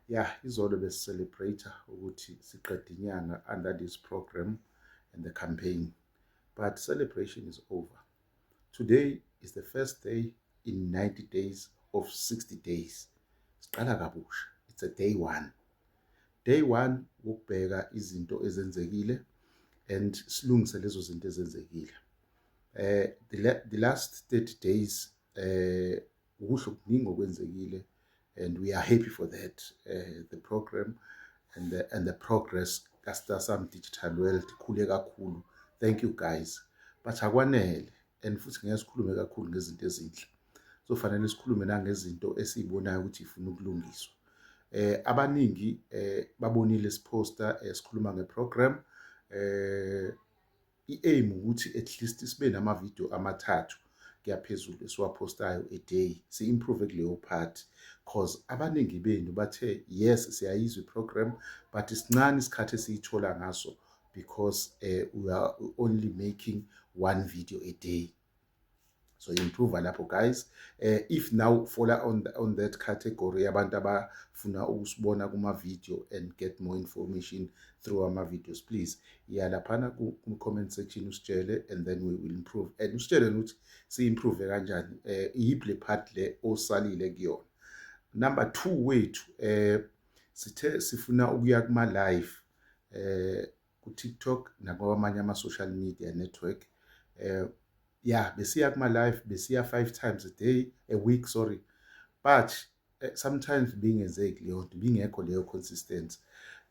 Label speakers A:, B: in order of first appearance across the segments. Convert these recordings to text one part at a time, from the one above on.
A: ya izolo besicelebrate ukuthi siqeda inyanga under this program and the campaign but celebration is over today is the first day in 90 days of 60 days siqala kabusha it's a day one day one wokubheka izinto ezenzekile and silungise lezo zinto ezenzekile eh the, the last 30 days eh kuhle okuningi okwenzekile and we are happy for that uh, the program and the, and the progress kastasam digital world ikhule kakhulu thank you guys but akwanele and futhi ngeke sikhulume kakhulu ngezinto ezinhle sofanele sikhulume nangezinto esiyibonayo ukuthi ifuna ukulungiswa eh abaningi eh babonile isiposter esikhuluma eh, ngeprogram eh I-aim ukuthi at least sibe nama-video amathathu kuyaphezulu esiwaphostayo a day si-improve kuleyo part cause abaningi benu bathe yes siyayizwa i-program but sincane isikhathi esiyithola ngaso because uh, we are only making one video a day so improve lapho guys uh, if now follow on, the, on that category abantu abafuna ukusibona kuma-video and get more information through ama-videos please iyalaphana ku-comment section usitshele and then we will improve and usitshele nokuthi si-improve kanjani um eh, iyiphi le part le osalile kuyona number two wethu um sithe sifuna ukuya kuma-live um ku-TikTok nakwamanye ama-social media network eh ya besiya kuma-live besiya five times a day a week sorry but eh, sometimes bingenzeki leyo nto bingekho leyo consistency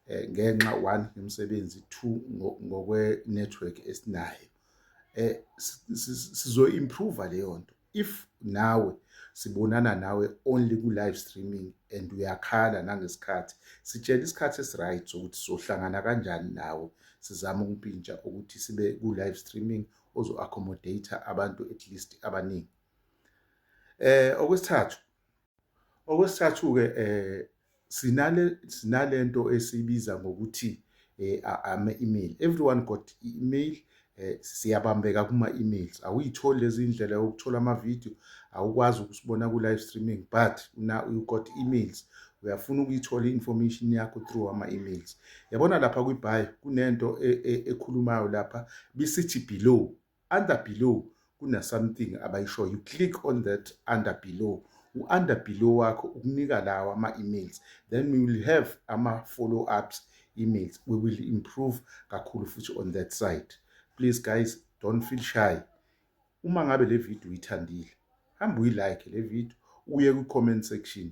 A: eh, ngenxa one yomsebenzi two ngokwe-network esinayo eh sizoyi-improva leyo nto if nawe sibonana nawe only ku live streaming and uyakhala nangesikhathi sitshela isikhathi esiright sokuthi sohlangana kanjani nawe sizama ukumpintsha ukuthi sibe ku live streaming ozo accommodate abantu at least abaningi eh okwesithathu Okwesithathu-ke sinale sinalento esibiza ngokuthi ama-email everyone got i-email siyabambeka kuma-emails awuyitholi lezi ndlela yokuthola amavidiyo awukwazi ukusibona ku-live streaming but na you got emails uyafuna ukuyithola i-information yakho through ama-emails yabona lapha kwibhayo kunento e, e, ekhulumayo lapha bisithi below Under below kuna something abayishoyo you click on that under below u under below wakho ukunika lawa ama emails then we will have ama follow ups emails we will improve kakhulu futhi on that side please guys don't feel shy uma ngabe le video uyithandile hamba uyilike le video uye ku comment section